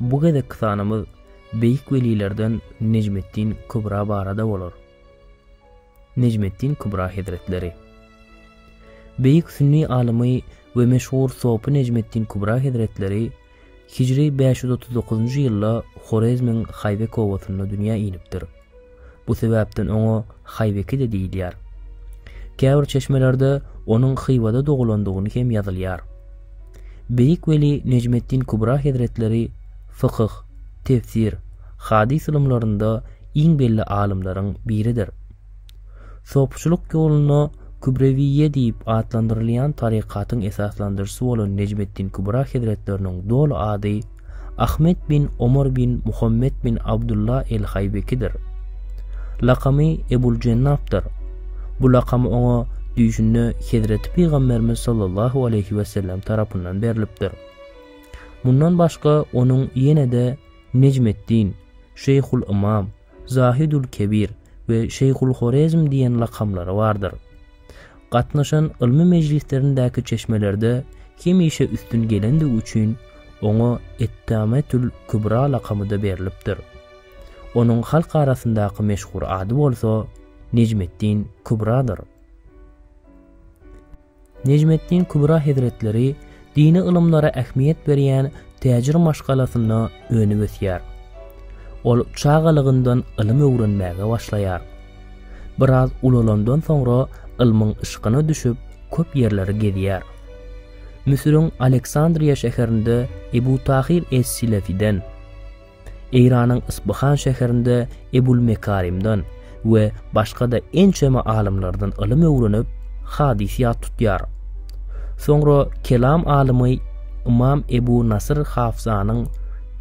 Bu gezekki sanymyz beýik welilerden Nejmeddin Kübra barada bolar. Nejmeddin Kübra hezretleri. Beýik sünni alymy we meşhur sopy Nejmeddin Kübra hezretleri hijri bäş ýüz otuz dokuzynjy ýylda Horezmiň Haýbek obasynda dünýä inipdir. Bu sebäpden oňa Haýbeki-de diýilýär. Käbir çeşmelerde onuň Hywada dogulandygyny hem ýazylýar. Beýik weli Nejmeddin Kubra hezretleri fykyh, tefsir, hadys ylymlarynda iň belli alymlaryň biridir. Sopçulyk ýoluna Kübrewiýe diýip atlandyrylýan tarykatyň esaslandyryjysy bolan Nejmeddin Kübra hezretleriniň doly ady Ahmet bin Omar bin Muhammet bin Abdulla el-Haýbekidir. Lakamy Ebul Jennapdyr. Bu lakam oňa düýşünde Hezreti Pygamberimiz sallallahu aleýhi wesellem tarapyndan berlipdir. Mundan başga onuň ýene-de Nejmeddin, Şeýhul-Ymam, Zahidül Kebir we Şeýhul Horezm diýen lakamlary bardyr. Gatnaşan ylmy mejlislerindäki çeşmelerde hemişe üstün gelendigi üçin oňa Etdametül Kübra lakamy-da berlipdir. Onuň halk arasyndaky meşhur ady bolsa Nejmeddin Kübradyr. Nejmeddin Kübra hezretleri dini ylymlara ähmiýet berýän täjir maşgalasynda önüp-ösýär. Ol çagalygyndan ylym öwrenmäge başlaýar. Biraz ulalandan soňra ylmyň yşkyna düşüp, köp ýerleri gezýär. Müsüriň Aleksandriýa şäherinde Ebu Tahyr es-Silefiden, Eýranyň Yspyhan şäherinde Ebul Mekarimden we başga-da ençeme alymlardan ylym öwrenip, hadys ýat tutýar. Soňra kelam alymy Ymam Ebu Nasyr Hafzanyň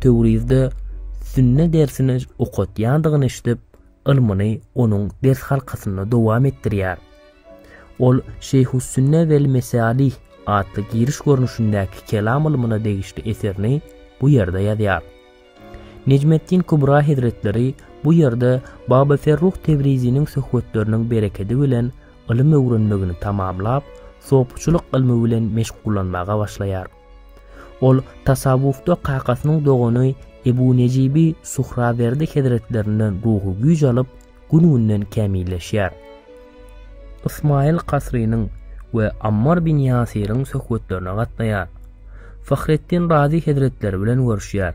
Töwrizde sünne dersini okatýandygyny eşidip, ylmyny onuň ders halkasynda dowam etdirýär. Ol Şeýhus-Sünne wel-Mesalih atly giriş görnüşindäki kelam ylmyna degişli eserini bu ýerde ýazýar. Nejmeddin Kubra hezretleri bu ýerde Baba Ferruh Tebriziniň söhbetleriniň berekedi bilen ylym öwrenmegini tamamlap, sopuçylyk ylmy bilen meşgullanmaga başlaýar. Ol tasawwufda kakasynyň dogany Ebu Nejibi Suhrawerdi hezretlerinden ruhy güýç alyp, gün-günden kämilleşýär. Ysmaýyl Kasrynyň we Ammar bin Ýasyryň söhbetlerine gatnaýar. Fahreddin Razy hezretleri bilen görüşýär.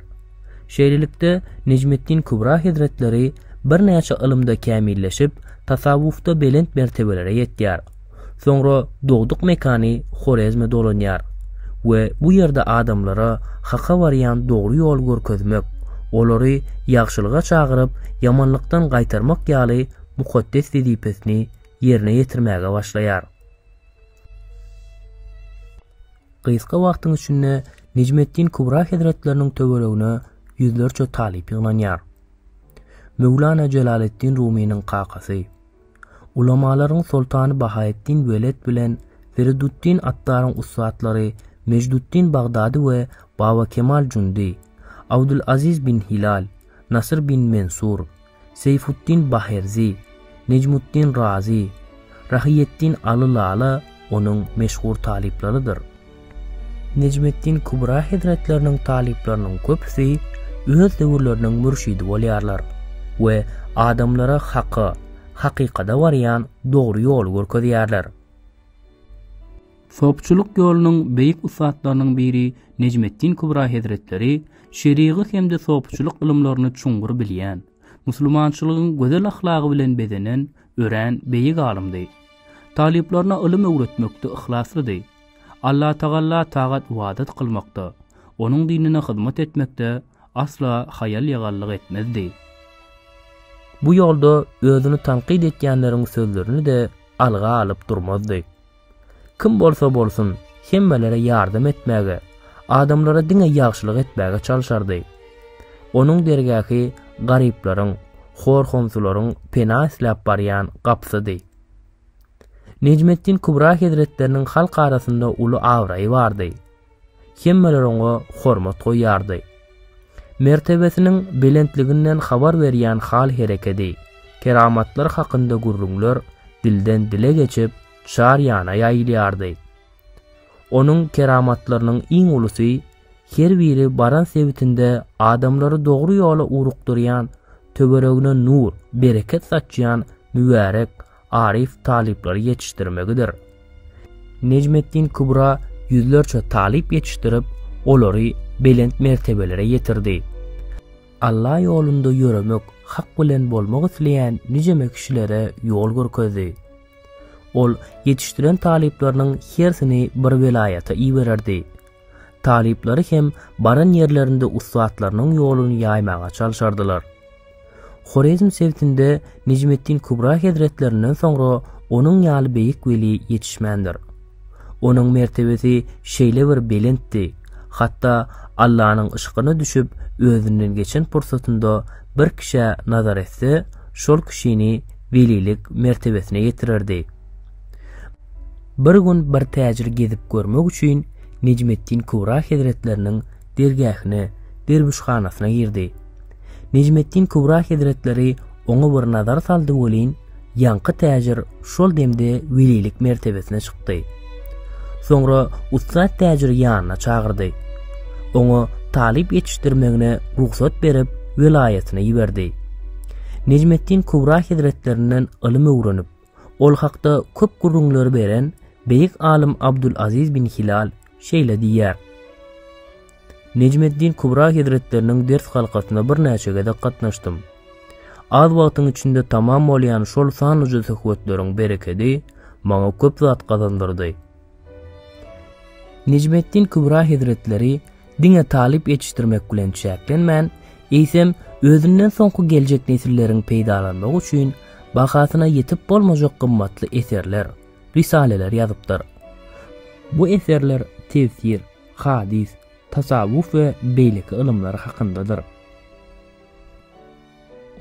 Şeýlelikde, Nejmeddin Kübra hezretleri birnäçe ylymda kämilleşip, tasawwufda belent mertebelere ýetýär. Soňra dogduk mekany Horezme dolanýar we bu ýerde adamlara haka barýan dogry ýoly görkezmek, olary ýagşylyga çagyryp, ýamanlykdan gaýtarmak ýaly mukaddes wezipesini ýerine ýetirmäge başlaýar. Gysga wagtyň içinde Nejmeddin Kubra hezretleriniň töweregine ýüzlerçe talyp ýygnanýar. Möwlana Jelaleddin Rumynyň kakasy. Ulamalaryň soltany Bahaetdin Weled bilen Feridutdin Attaryň ussatlary Mejdutdin Bagdady we Baba Kemal Jundy, Abdulaziz bin Hilal, Nasyr bin Mensur, Seýfutdin Baherzi, Nejmutdin Razy, Rahyýetdin Aly Lala onuň meşhur talyplarydyr. Nejmeddin Kubra hezretleriniň talyplarynyň köpüsi öz döwürleriniň mürşidi bolýarlar we adamlara haka, hakykada barýan dogry ýoly görkezýärler. Sopçulyk ýolunyň beýik ussatlarynyň biri Nejmeddin Kubra hezretleri şerigat hem-de sopçulyk ylymlaryny çuňňur bilýän, musulmançylygyň gözel ahlagy bilen bezenen, örän beýik alymdy. Talyplaryna ylym öwretmekde yhlaslydy. Allatagalla tagat-ybadat kylmakda, Onuň dinine hyzmat etmekde asla haýal-ýagallyk etmezdi. Bu ýolda özüni tankyt etýänleriň sözlerini-de alga alyp durmazdy. Kim bolsa bolsun, hemmelere ýardam etmäge, adamlara diňe ýagşylyk etmäge çalşardy. Onuň dergähi garyplaryň, hor-homsularyň pena isläp barýan gapysydy. Nejmetdin Kubra hezretleriniň halk arasynda uly abraýy bardy. Hemmeler oňa hormat goýýardy. Mertebesiniň belentliginden habar berýän hal-herekedi, keramatlary hakynda gürrüňler dilden-dile geçip, çar ýana ýaýylýardy. Onuň keramatlarynyň iň ulusy Her biri baran sebitinde adamlary dogry ýola ugrukdyrýan, töweregine nur, bereket saçýan mübärek, aryf talyplary ýetişdirmegidir. Nejmeddin Kubra ýüzlerçe talyp ýetişdirip, olary belent mertebelere ýetirdi. Alla ýolunda ýöremek, hak bilen bolmak isleýän nijeme kişilere ýol görkezdi. Ol ýetişdiren talyplarynyň hersini bir welaýata ibererdi. Talyplary hem baran ýerlerinde ussatlarynyň ýoluny ýaýmaga çalşardylar. Horezm sebitinde Nejmeddin Kubra hezretlerinden soňra onuň ýaly beýik weli ýetişmändir. Onuň mertebesi şeýle bir belentdi, hatda Allanyň yşkyna düşüp özünden geçen pursatynda bir kişä nazar etse, şol kişini welilik mertebesine ýetirerdi. Bir gün bir täjir gezip görmek üçin Nejmetdin Kubra hezretleriniň dergähine, derwüşhanasyna girdi. Nejmetdin Kubra hezretleri oňa bir nazar saldy welin, ýaňky täjir şol demde welilik mertebesine çykdy. Soňra ussat täjiri ýanyna çagyrdy. Oňa talyp ýetişdirmegine rugsat berip, welaýatyna iberdi. Nejmetdin Kubra hezretlerinden ylym öwrenip, Ol hakda köp gürrüňleri beren beýik alym Abdulaziz bin Hilal şeýle diýýär, Nejmeddin Kubra hezretleriniň ders halkasyna birnäçe gezek gatnaşdym. Az wagtyň içinde tamam bolýan şol sanlyja söhbetleriň berekedi maňa köp zat gazandyrdy. Nejmeddin Kübra hezretleri diňe talyp ýetişdirmek bilen çäklenmän, eýsem, özünden soňky geljek nesilleriň peýdalanmagy üçin bahasyna ýetip bolmajak gymmatly eserler, risaleler ýazypdyr. Bu eserler tefsir, hadys, tasawwuf we beýleki ylymlar hakyndadyr.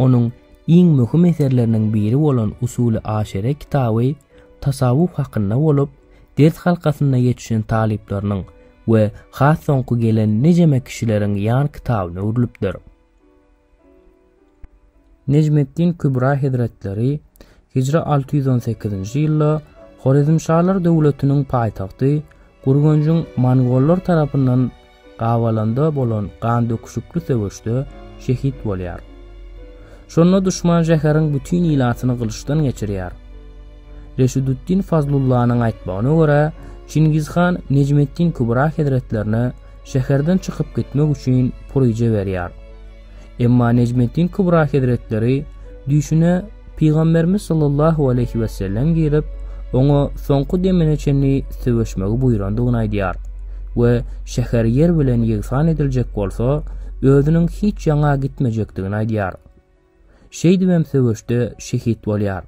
Onuň iň möhüm eserleriniň biri bolan Usul-i Aşere kitaby tasawwuf hakynda bolup, ders halkasynda ýetişen talyplarynyň we has soňky gelen nijeme kişileriň ýan kitabyna öwrülipdir. Nejmeddin Kübra hezretleri, hijra alty ýüz on sekizinji ýylda Horezmşalar döwletiniň paýtagty Gürgenjiň mongollar tarapyndan Gabalanda bolan gandöküşikli söweşde şehit bolýar. Şonda duşman şäheriň bütin ilatyny gylyçdan geçirýär. Reşiduddin Fazlullanyň aýtmagyna görä, Çingiz han Nejmeddin Kübra hezretlerine şäherden çykyp gitmek üçin puryja berýär. Emma Nejmeddin Kubra hezretleri düýşüne Pygamberimiz sallallahu aleýhi wesellem girip, oňa soňky demine çenli söweşmegi buýrandygyny aýdýar we şäher ýer bilen ýegsan ediljek bolsa, özüniň hiç ýaňa gitmejekdigini aýdýar. Şeýdibem söweşde şehit bolýar.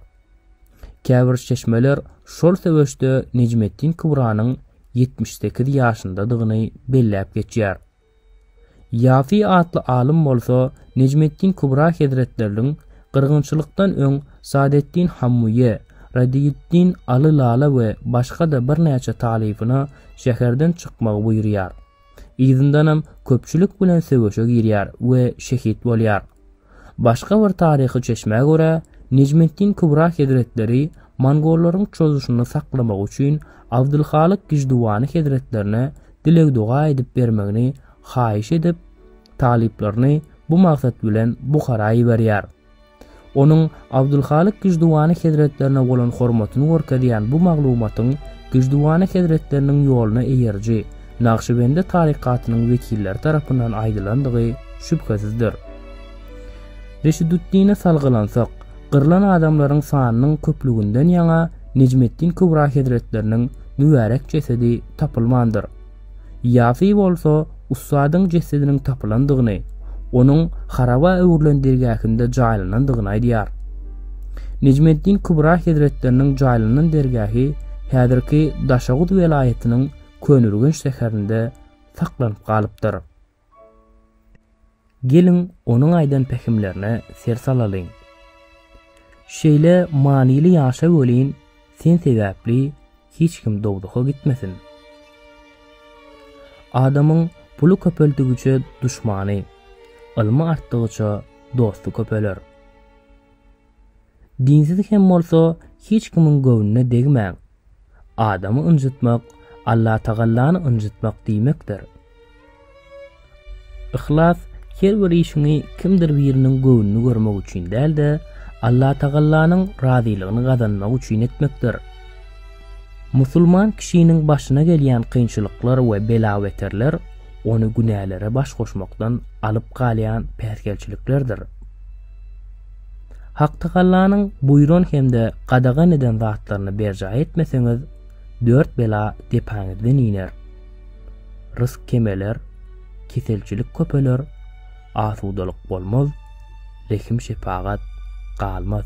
Käbir çeşmeler şol söweşde Nejmeddin Kubranyň ýetmiş sekiz ýaşyndadygyny belläp geçýär. Ýafy atly alym bolsa Nejmeddin Kubra hezretleriniň gyrgynçylykdan öň Sadeddin Hammuýe, Radiyüddin Aly Lala we başga-da birnäçe talybyna şäherden çykmagy buýurýar. Yzyndanam köpçülik bilen söweşe girýär we şehit bolýar. Başga bir taryhy çeşmä görä, Nejmeddin Kubra hezretleri mongollaryň çozuşyny saklamak üçin Abdylhalyk Gižduvany hezretlerine dileg-doga edip bermegini haýyş edip, talyplaryny bu maksat bilen Buhara iberýär. Onuň Abdulhalyk Giždüwany hezretlerine bolan hormatyny görkezýän bu maglumatyň Giždüwany hezretleriniň ýoluna eýeriji Nagşybendi tarykatynyň wekilleri tarapyndan aýdylandygy şübhesizdir. Reşiduddine salgylansak, gyrlan adamlaryň sanynyň köplüginden ýaňa Nejmeddin Kübra hezretleriniň mübärek jesedi tapylmandyr. Ýafi bolsa ussadyň jesediniň tapylandygyny, onuň haraba öwrülen dergähinde jaýlanandygyny aýdýar. Nejmeddin Kubra hezretleriniň jaýlanan dergähi häzirki Daşoguz welaýatynyň Köneürgenç şäherinde saklanyp galypdyr. Geliň, onuň aýdan pähimlerine ser salalyň. Şeýle manyly ýaşa welin, sen sebäpli hiç kim dowzaha gitmesin. Adamyň puly köpeldigiçe duşmany, ylmy artdygyça dosty köpeler. Dinsiz hem bolsa hiç kimiň göwnüne degmäň. Adamy ynjytmak Allatagallany ynjytmak diýmekdir. Yhlas her bir işiňi kimdir biriniň göwnüni görmek üçin däl-de, Allatagallanyň razylygyny gazanmak üçin etmekdir. Musulman kişiniň başyna gelýän kynçylyklar we bela-beterler ony günälere baş goşmakdan alyp galýan päsgelçiliklerdir. Hak Tagallanyň buýran hem-de gadagan eden zatlaryny berjaý etmeseňiz, dört bela depäňizden iner. Rysk kemeler, keselçilik köpeler, asudalyk bolmaz, rehim-şepagat galmaz.